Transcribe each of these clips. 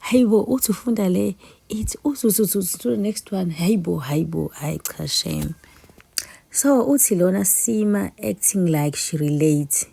hayibo uthi ufunda le ithi uthi uthi uthi uthi the next one hayibo hayibo hayi cha shame so uthi lona sima acting like she relate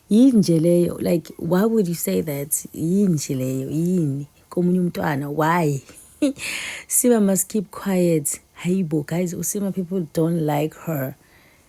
yini nje leyo like why would you say that yini nje leyo yini komunye umntwana why sima must keep quiet hayibo guys usima people don't like her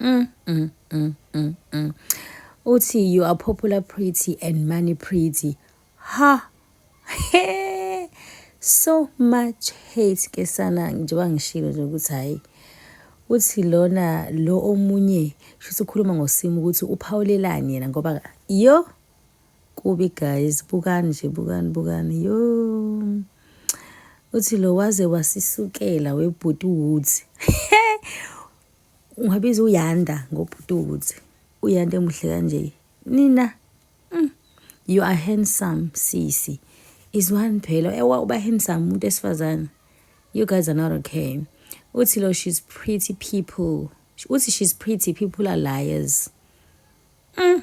Mm, mm, mm, mm, mm. Uthi you are popular pretty and money pretty. Ha. Hey. So much hate ke sana njengoba ngishilo nje ukuthi hayi uthi lona lo omunye shuthi ukhuluma ngosimo ukuthi uphawulelani yena ngoba yo kubi guys bukani nje bukani bukani yo uthi lo waze wasisukela webhuti woods Ungabiza uYanda ngobhuti ukuthi uYanda emuhle kanje. Nina mm, you are handsome sisi. Is one phela ewa uba handsome umuntu esifazana. You guys are not okay. Uthi lo she's pretty people. Uthi she's pretty people are liars. Mm.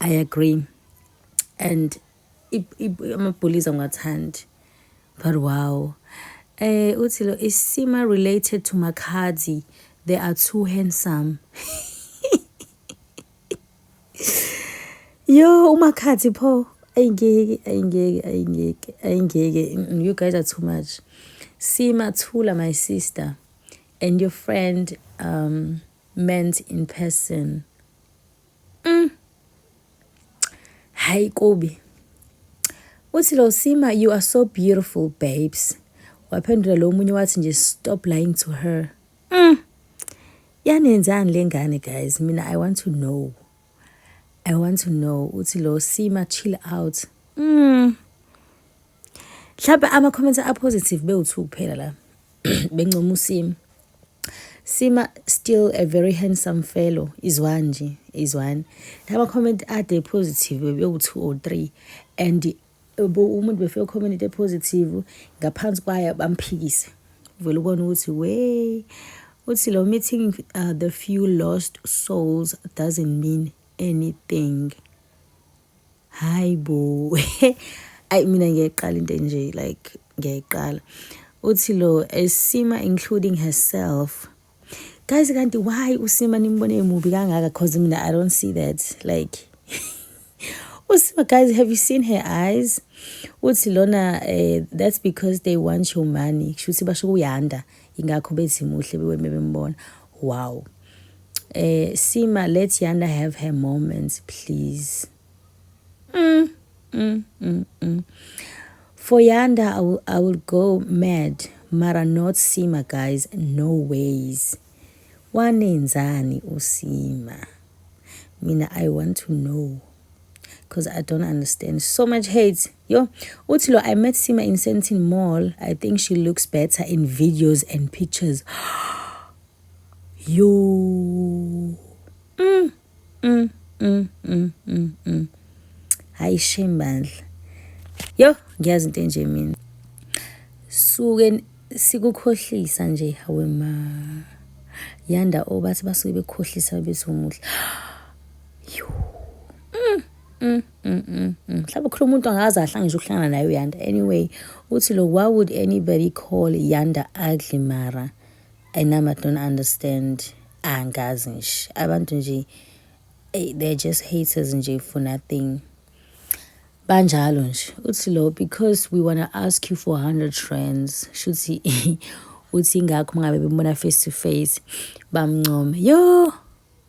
I agree and amabholizi angiwathandi but wow eh uthi lo isima related to makhadzi they are too handsome yo umakhathi pho ayingeke ayingeke ayingeke ayingeke mm, you guys are too much sima thula my sister and your friend um meant in person Mm. Hayi kubi. Uthi lo Sima you are so beautiful babes. Waphendula lo munye wathi nje stop lying to her. Mm. Yanenzani lengane guys? Mina I want to know. I want to know uthi lo Sima chill out. Mm. Mhlawumbe ama-comments a-positive bewuthu kuphela la bencoma usimo Sima still a very handsome fellow izwa nje izwani laba comment ade positive bebewu-2 or 3 and umuntu befike comment e-positive ngaphansi kwayo bamphikise vele ubona ukuthi we uthi lo meeting uh, the few lost souls doesn't mean anything hayi bo ayi mina ngiyayiqala into enje like ngiyayiqala uthi lo esima including herself guys kanti why usima nimbone emubi kangaka cause mina i don't see that like usima guys have you seen her eyes uthi lona uh, that's because they want your money kushuthi basho kuyanda ingakho bethi muhle beweme bembona wow eh sima let yanda have her moments please mm, mm, mm, mm. for yanda I will, i will go mad mara not sima guys no ways wanenzani usima mina i want to know because I don't understand. So much hate. Yo, Utilo, I met Sima in Sentin Mall. I think she looks better in videos and pictures. Yo. Mm, mm, mm, mm, mm, mm. Hayi shame bandla. Yo, ngiyazi into enje mina. Suke sikukhohlisa nje hawe ma. Yanda obathi basuke bekhohlisa bethi umuhle. Mm, mm, mm, mm, mm. mhlawumbe ukhuluma umuntu angazi ahle ngisho ukuhlangana naye uyanda anyway uthi lo why would anybody call yanda ugly mara anami i don't understand angazi nje abantu nje eh, they're just haters nje for nothing banjalo nje uthi lo because we wanna ask you for 100 rands shuthi uthi ingakho mangabe bembona face to face bamncome yo